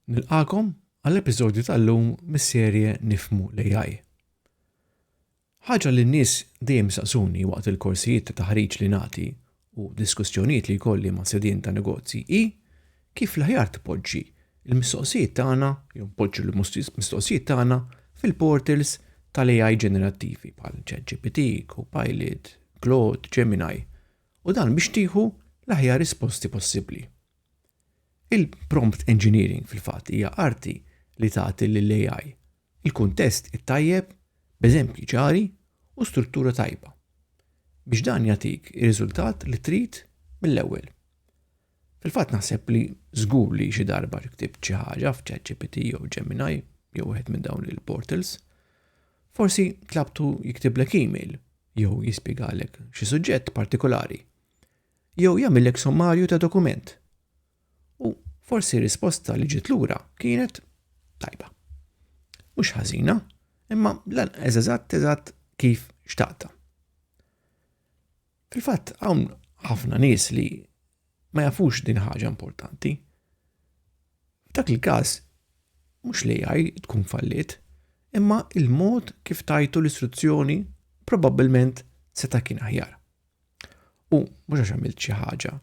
Nilqakom għall-episodju tal-lum mis-serje Nifmu l-AI. Ħaġa li n-nies dejjem saqsuni waqt il-korsijiet ta' taħriġ li nagħti u diskussjonijiet li jkolli ma' sedien ta' negozji hi kif l-aħjar tpoġġi l-mistoqsijiet tagħna jew poġġu l-mistoqsijiet tagħna fil-portals tal-AI ġenerattivi bħal ChatGPT, Copilot, Claude, Gemini u dan biex tieħu l-aħjar risposti possibbli. Il-prompt engineering fil-fatt hija arti li tagħti lill-AI il-kuntest it-tajjeb b'eżempji ċari u struttura tajba biex dan jagħtik ir-riżultat li trid mill-ewwel. Fil-fatt naħseb li żgur li xi darba ktibt xi ħaġa f'ChatGPT jew Gemini jew wieħed minn dawn il-portals, forsi tlabtu jiktiblek email jew jispjegalek xi suġġett partikolari jew jagħmilek sommarju ta' dokument U forsi risposta li ġiet lura kienet tajba. Mhux ħażina, imma lan eżatt eżatt kif xtaqta. Fil-fatt hawn ħafna nies li ma jafux din ħaġa importanti. F'dak il-każ mhux li jgħaj tkun fallit, imma il-mod kif tajtu l-istruzzjoni probabbilment seta' kien aħjar. U mhux għax għamilt xi ħaġa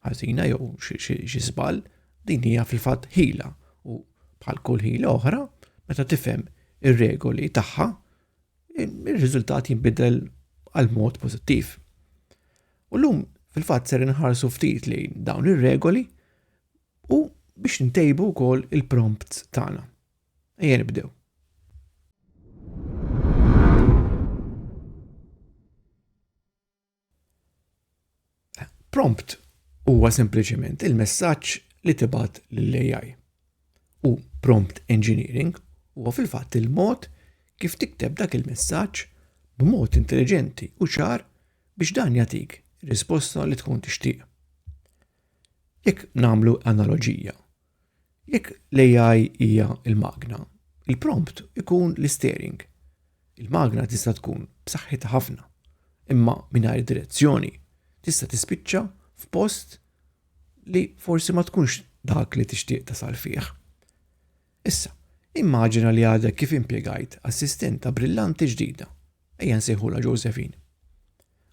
ħażina jew xi żball, din hija fil-fatt ħila u bħal kull ħila oħra, meta tifhem ir-regoli tagħha, ir-riżultat jinbidel għal mod pożittiv. U llum fil-fatt ser inħarsu ftit li dawn ir-regoli u biex ntejbu wkoll il-prompts tagħna. Ejja nibdew. Prompt huwa sempliċement il-messaġġ li tibgħat lill-AI. U prompt engineering huwa fil-fatt il-mod kif tikteb dak il-messaġġ b'mod intelliġenti u ċar biex dan jagħtik risposta li tkun tixtieq. Jekk nagħmlu analoġija, Jekk l-AI hija l-magna, il-prompt ikun l-isteering. Il-magna tista' tkun b'saħħitha ħafna, imma mingħajr direzzjoni tista' tispiċċa f'post li forsi ma tkunx dak li tixtieq tasal fih. Issa, immaġina li għadek kif impjegajt assistenta brillanti ġdida, ejja nsejħula Josephine.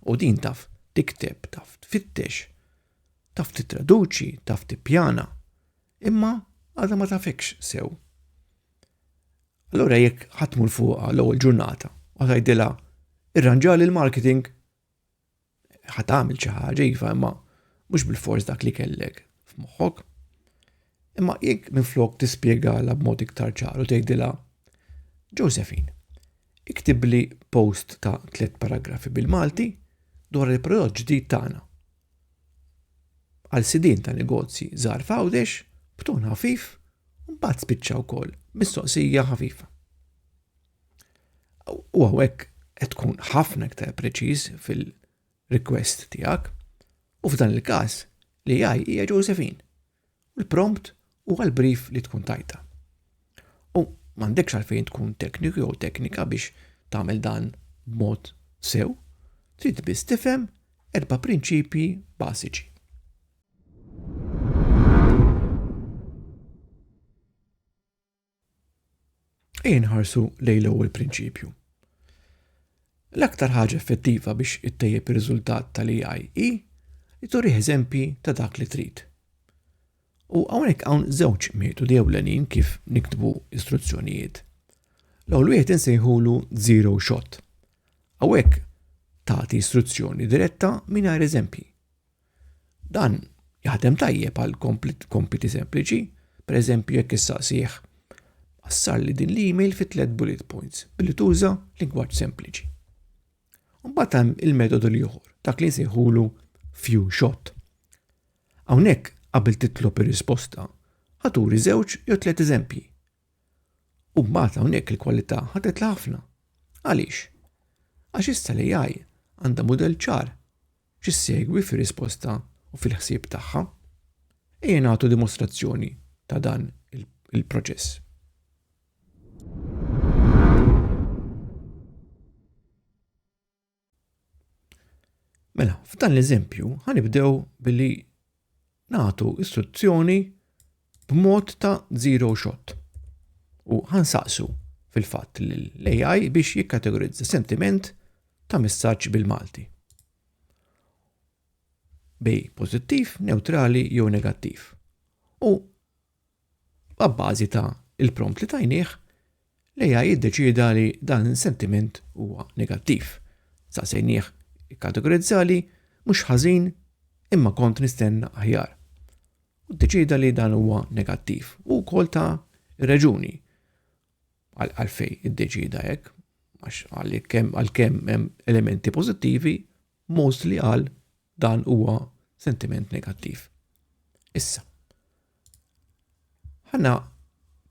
U din taf tikteb, taf tfittex, Taf tittraduċi, taf tippjana, imma għadha ma tafikx sew. Allura jekk ħatmu l fuqha l-ewwel ġurnata u tgħidilha irranġali l-marketing ħat tagħmel xi ħaġa iva imma mhux bil-fors dak li kellek f'moħħok. Imma jekk minflok tispjegala b'mod iktar ċaru tgħidilha Josephine, Iktibli post ta' tliet paragrafi bil-Malti dwar il-prodott ġdid tagħna. Għal sidien ta' negozji żgħar f'Għawdex, b'ton ħafif, u mbagħad spiċċa wkoll mistoqsija ħafifa. U hawnhekk qed tkun ħafna iktar preċiż fil-request tiegħek u f'dan il-każ li jgħaj hija Josephine. u l-prompt huwa l-brief li tkun tajta. U m'għandekx għalfejn tkun tekniku jew teknika biex tagħmel dan b'mod sew, trid biss tifhem erba' prinċipji bażiċi. Ejja nħarsu lejn l-ewwel prinċipju. L-aktar ħaġa effettiva biex ittejjeb ir-riżultat tal-AI hi li turih eżempji ta' dak li trid. U hawnhekk hawn żewġ metodi ewlenin kif niktbu istruzzjonijiet. L-ewwel wieħed insejħulu zero shot. Hawnhekk tagħti istruzzjoni diretta mingħajr eżempji. Dan jaħdem tajjeb għal kompiti sempliċi, pereżempju jekk issaqsih qassar li din l-email fi tliet bullet points billi tuża lingwaġġ sempliċi. Mbagħad hemm il-metodu li joħor, dak li jsejħulu few shot. Hawnhekk qabel titlob ir-risposta, ħaturi żewġ jew tliet eżempji U mbagħad hawnhekk il-kwalità ħadetla ħafna. Għaliex? Għax issa l-AI għandha mudell ċar x'issegwi fir-risposta u fil-ħsieb tagħha. Ejja nagħtu dimostrazzjoni ta' dan il-proċess. Mela, f'dan l-eżempju, ħanibdew billi nagħtu istruzzjoni b'mod ta' zero shot. U ħansaqsu fil-fatt l-AI biex jikkategorizza sentiment ta' messaġġ bil-Malti. Bej pozittiv, neutrali jew negattiv. U Abbażi ta' il-prompt li tajnieh, l-AI iddeċieda li dan is-sentiment huwa negattiv. Saqsejnieh ikkategorizzali mhux ħażin imma kont nistenna aħjar. U ddeċieda li dan huwa negattiv u wkoll ta' ir-reġuni. għalfejn iddeċieda hekk, għax għalkemm għalkemm hemm elementi pożittivi, most li qal dan huwa sentiment negattiv. Issa, ħana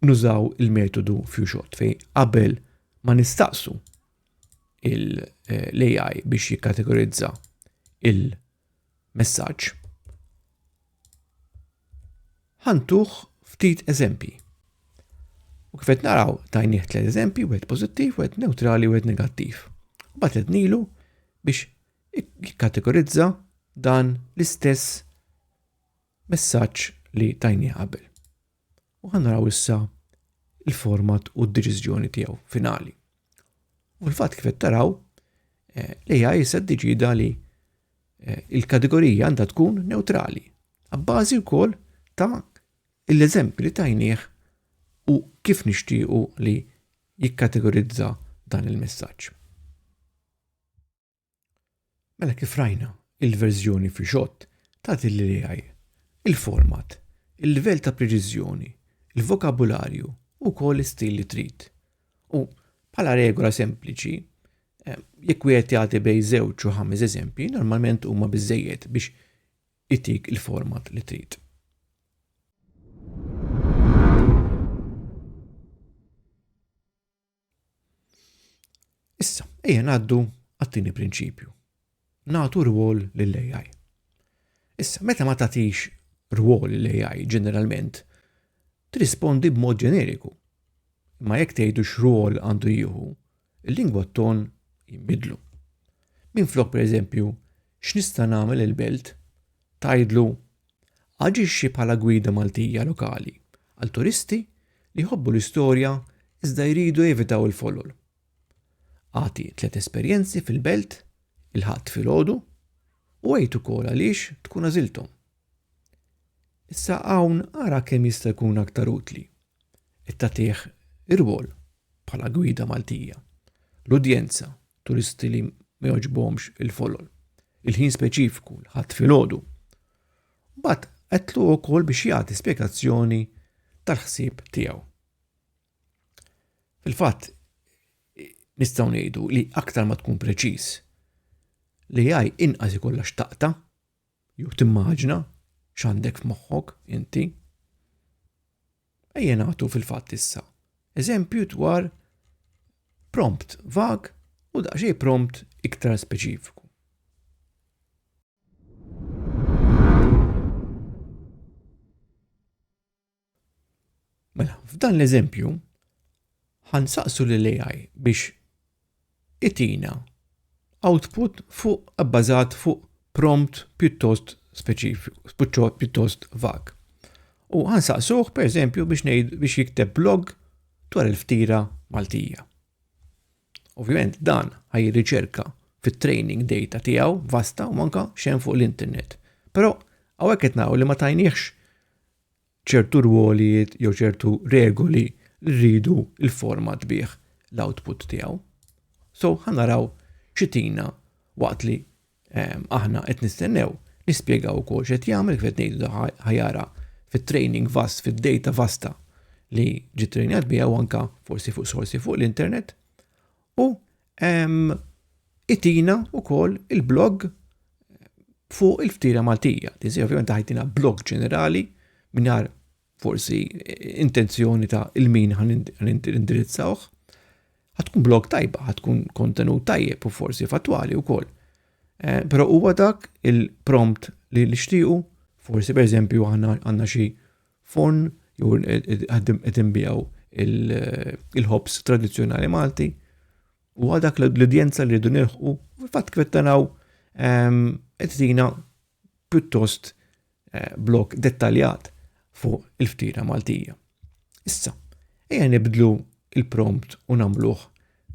nużaw il-metodu few shot fej qabel ma nistaqsu l-AI biex jikkategorizza il- messaġġ. Ħantuh ftit eżempji. U kif qed naraw tajnieh tliet eżempji, wieħed pożittiv, wieħed neutrali, wieħed negattiv. Mbagħad qed nilu biex jikkategorizza dan l-istess messaġġ li tajni qabel. u ħa naraw issa il-format u d-deċiżjoni tiegħu finali. U l-fatt kif qed taraw eh, l-AI issa ddeċida li eh, il-kategorija għandha tkun neutrali, għabbażi wkoll ta' l-eżempju li tajnieh u kif nixtiequ li jikkategorizza dan il-messaġġ. Mela kif rajna, il-verżjoni fi xott tagħti lill-AI il-format, il-livell ta' preċiżjoni, il-vokabularju u wkoll l-istil li trid. U bħala regola sempliċi, eh, jekk wieħed jagħti bej żewġ u ħames eżempji, normalment huma biżejjed biex itik il-format li trid. Issa, ejja ngħaddu għat-tieni prinċipju. Nagħtu rwol lill-AI. Issa, meta ma tagħtix rwol lill-AI ġeneralment, trispondi b'mod ġeneriku. Ma jekk tgħidu x'rwol għandu jieħu, il-lingwa ton jinbidlu. Minflok pereżempju X'nista' nagħmel lill-belt? Tgħidlu, Aġixxi bħala gwida Maltija lokali għal turisti li jħobbu l-istorja iżda jridu jevitaw il-folol. Agħti tliet esperjenzi fil-belt il-Ħadd filgħodu u għid ukoll għaliex tkun għażilthom. Issa hawn ara kemm jista' jkun aktar utli. Qed tagħtih irwol bħala gwida Maltija. L-udjenza turisti li ma joġbomx il-folol. Il-ħin speċifiku l-ħadd filgħodu. Bat qedlu wkoll biex jagħti spjegazzjoni tal-ħsieb tiegħu. Fil-fatt nistgħu ngħidu li aktar ma tkun preċiż li jaj inqas ikollha xtaqta Jew timmaġna x'għandek f'moħħok inti. Ejja nagħtu fil-fatt issa eżempju dwar prompt vag u daqsxejn prompt iktar speċifiku. Mela, f'dan l-eżempju, ħansaqsu li l-AI biex itina output fuq abbażat fuq prompt pjuttost speċifiku, pjuttost vag. U ħansaqsuh, per eżempju, biex, biex jikteb blog dwar il-ftira Maltija. Ovvjament dan ħaj riċerka fit-training data tiegħu vasta u manka xejn fuq l-internet. Però hawnhekk qed naraw li ma tajniex ċertu rwolijiet jew ċertu regoli li rridu il-format bih l-output tiegħu. So ħanaraw xitina waqt li ehm, aħna qed nistennew nispjegaw ukoll x'qed jagħmel kif qed ngħidu ħajara fit-training vast, fid-data vasta li ġiet training biha u anka forsi fuq sorsi fuq l-internet u itina u kol il-blog fuq il-ftira Maltija. Tizi ovvijament ħajtina blog ġenerali minar forsi intenzjoni ta' il-min għan indirizzawħ. Għatkun blog tajba, għatkun kontenut tajjeb u forsi fattwali u kol. Eh, Pero huwa dak il-prompt li nixtiequ, forsi per eżempju għanna xi Forn jew qed inbijaw il-ħobs tradizzjonali Malti u għadak l-udjenza li rridu nilħqu fatt kif qed naraw ehm, qed tina pjuttost eh, blok dettaljat fuq il-ftira Maltija. Issa, ejja nibdlu il-prompt u nagħmluh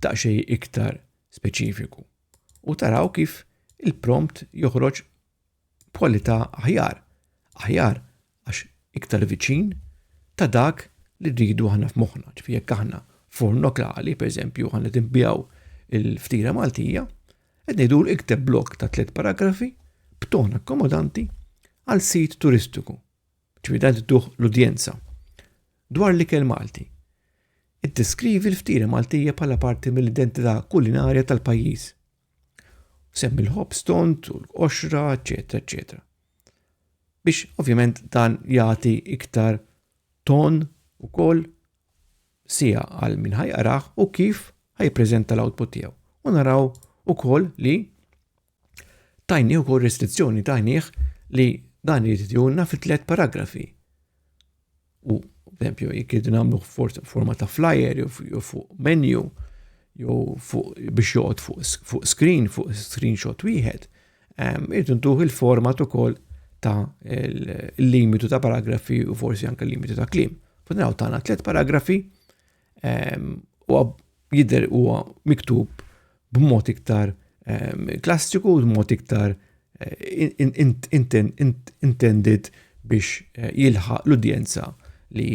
ta' xej iktar speċifiku. U taraw kif il-prompt joħroġ b'kwalità aħjar, aħjar għax iktar viċin ta' dak li rridu aħna f'moħħna. Ġifi jekk aħna forn lokali, per eżempju, aħna tinbijaw il-ftira Maltija, qed ngħidu ikteb blok ta' tliet paragrafi b'ton akkomodanti għal sit turistiku. Ġifi dan tuħ l-udjenza. Dwar li kell Malti. Iddeskrivi l-ftira Maltija bħala parti mill-identità kulinarja tal-pajjiż. Semm il-ħobż tont u l-qoxra, eċetera, eċetera. Biex ovvjament dan jagħti iktar ton ukoll sija għal min ħajqraħ u kif ħajpreżenta l-output tiegħu. U naraw ukoll li tajni ukoll restrizzjoni tajnih li dan jitjuna fi tliet paragrafi. U, tempju, jek jidin għamlu forma ta' flyer, jew fuq menu, jew fuq biex joqgħod fuq screen, fuq screenshot wieħed, irridu ntuħ il-format ukoll ta' il-limitu ta' paragrafi u forsi anke l-limitu ta' klim. Funaw tagħna tliet paragrafi u jidher huwa miktub b'mod iktar klassiku, b'mod iktar intended biex jilħaq l-udjenza li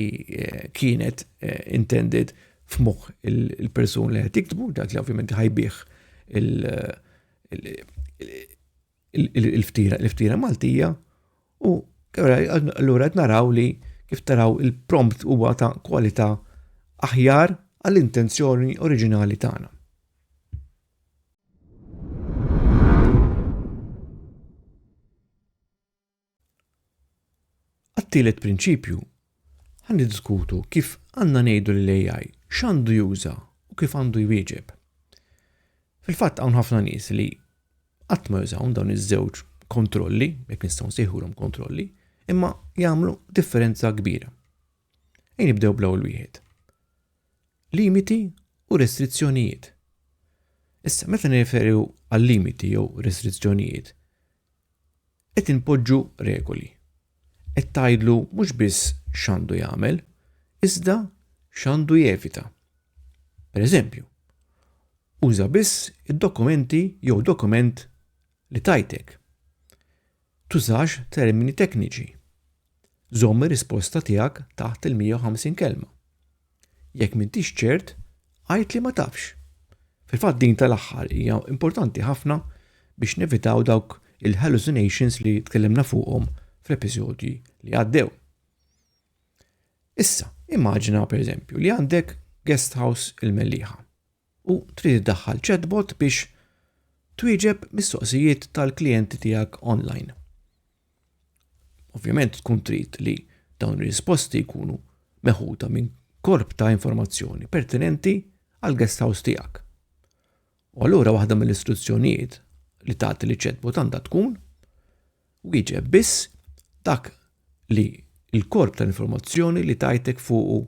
kienet intended f'moħħ il-persun li qed jiktbu, dak li ovvjament ħajbih il-ftira, il-ftira Maltija u allura qed naraw li kif taraw il-prompt huwa ta' kwalità aħjar għall-intenzjoni oriġinali tagħna. Għat-tielet prinċipju, ħa niddiskutu kif għandna ngħidu lil AI x'għandu juża u kif għandu jwieġeb. Fil-fatt hawn ħafna nies li qatt ma jużawn dawn iż-żewġ kontrolli, jekk nistgħu nsejħulhom kontrolli, imma jagħmlu differenza kbira. Ejn nibdew bl-ewwel wieħed. Limiti u restrizzjonijiet. Issa meta nirreferu għal limiti jew restrizzjonijiet, Qed inpoġġu regoli. Qed tgħidlu mhux biss x'għandu jagħmel, iżda x'għandu jevita. Pereżempju, uża biss id-dokumenti jew dokument li tajtek. Tużax termini tekniċi. Żomm ir-risposta tiegħek taħt il-150 kelma. Jekk m'intix ċert, għid li ma tafx. Fil-fatt din tal-aħħar hija importanti ħafna biex nevitaw dawk il-hallucinations li tkellimna fuqhom fl-episodji li għaddew. Issa, immaġina pereżempju li għandek guest house il-Melliħa. u trid iddaħħal chatbot biex twieġeb mistoqsijiet tal-klijenti tiegħek onlajn. Ovvjament tkun trid li dawn ir-risposti jkunu meħuda minn korp ta' informazzjoni pertinenti għal guest house tiegħek. U allura waħda mill-istruzzjonijiet li tagħti li chatbot għandha tkun wieġeb biss dak li l-korp ta' informazzjoni li tajtek fuqu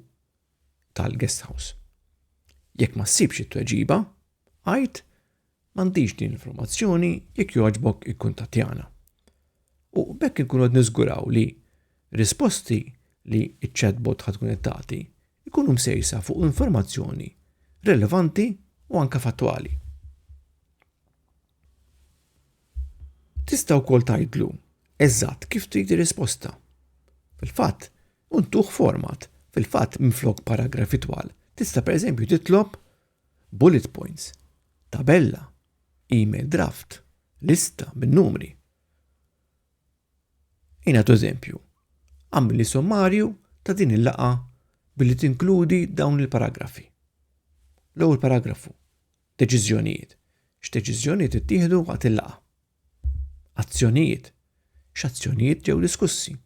tal-guest house. Jekk ma ssibx it-tweġiba, għid m'għandix din l-informazzjoni jekk jogħġbok ikkuntattjana. U bekk inkunu qed niżguraw li risposti li ċ-chatbot ħad tkun qed tagħti jkunu msejsa fuq informazzjoni relevanti u anke fattwali. Tista' wkoll tgħidlu eżatt kif trid ir-risposta. Fil-fatt, untuh format. Fil-fatt, minflok paragrafi twal, tista' pereżempju titlob bullet points, tabella, email draft, lista bin-numri. Jina eżempju, għamil li sommarju ta' din il-laqa billi tinkludi dawn il-paragrafi. L-ewwel paragrafu, Deċiżjonijiet, X'deċiżjonijiet ittieħdu waqt il-laqgħa? Azzjonijiet, X'azzjonijiet ġew diskussi?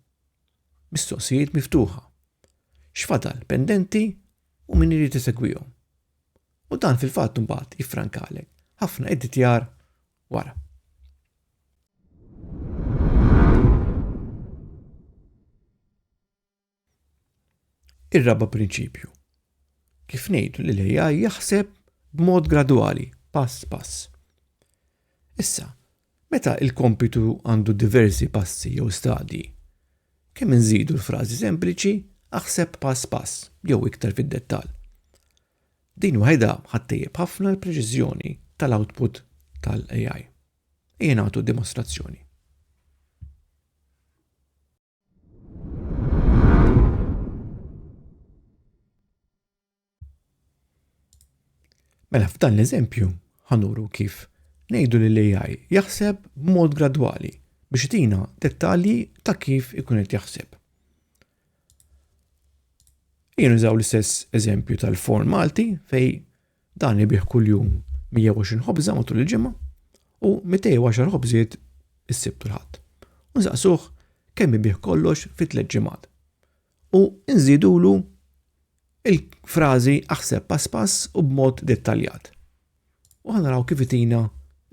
Mistoqsijiet miftuħa, X'fadal pendenti u min irid isegwihom? U dan fil-fatt imbagħad jiffrankalek ħafna editjar wara. Ir-raba' prinċipju. Kif ngħidu li l-AI jaħseb b'mod gradwali, pass pass. Issa, meta il-kompitu għandu diversi passi jew stadji, kemm inżidu l-frażi sempliċi aħseb pass pass jew iktar fid-dettall. Din waħedha ħattejjeb ħafna l-preċiżjoni tal-output tal-AI. Ejja nagħtu dimostrazzjoni. Mela f'dan l-eżempju ħanuru kif ngħidu li l-AI jaħseb b'mod gradwali biex tina dettalji ta' kif ikun qed jaħseb. Jien użaw l-istess eżempju tal-form Malti fej Dan ibih kuljum 120 ħobża matul il-ġimgħa u 210 ħobżiet is-Sibt u l-Ħadd. U nsaqsuh kemm ibih kollox fi tliet ġimgħat. U nżidulu il-frażi aħseb pass pass u b'mod dettaljat. U ħanaraw kif itina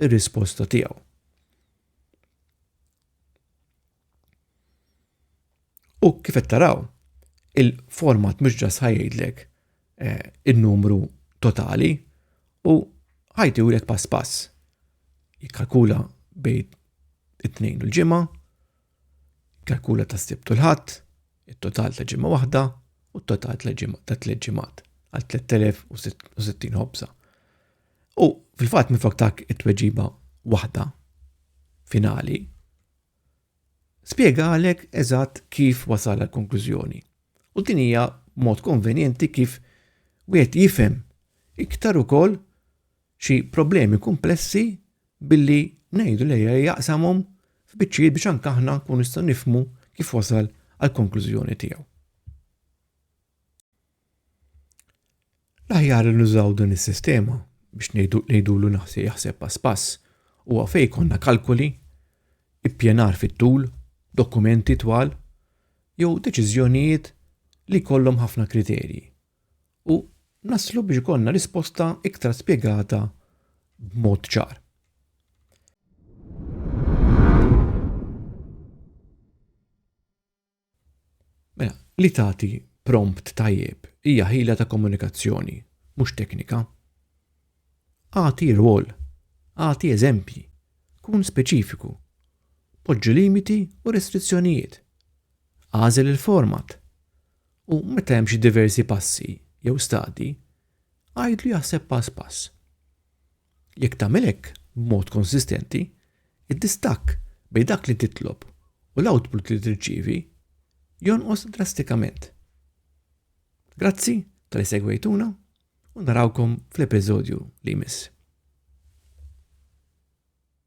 ir-risposta tiegħu. U kif qed taraw, il-format mhux ġas ħajjidlek eh, in-numru totali u ħajti u pass pass. Jikkalkula bejn it-tnejn u l-ġimgħa, kalkula ta' sibt u l-ħadd, it-total ta' ġimgħa waħda u t-total ta' tliet ġimgħat għal 3060 ħobza. U fil-fatt minn faktak it-tweġiba waħda finali spjegalek eżatt kif wasal għal konklużjoni. U din hija mod konvenjenti kif wieħed jifhem iktar ukoll xi problemi kumplessi billi ngħidu li jaqsamhom f'biċċijiet biex anke aħna nkunu nistgħu nifhmu kif wasal għal konklużjoni tiegħu. L-aħjar li nużaw din is-sistema biex ngħidulu naħseb jaħseb pass pass huwa fejn jkollna kalkoli, ippjanar fit-tul, dokumenti twal jew deċiżjonijiet li jkollhom ħafna kriterji u naslu biex ikollna risposta iktar spjegata b'mod ċar. Mela, li tagħti prompt tajjeb hija ħila ta' komunikazzjoni, mhux teknika. Agħti rwol, agħti eżempji, kun speċifiku, poġġi limiti u restrizzjonijiet, għażel il-format u meta hemm xi diversi passi jew stadji, għidlu jaħseb pass pass. Jekk tagħmel hekk b'mod konsistenti, id-distakk bejn dak li titlob u l-output li tirċievi jonqos drastikament. Grazzi tal-li segwejtuna u narawkom fl-episodju li jmiss.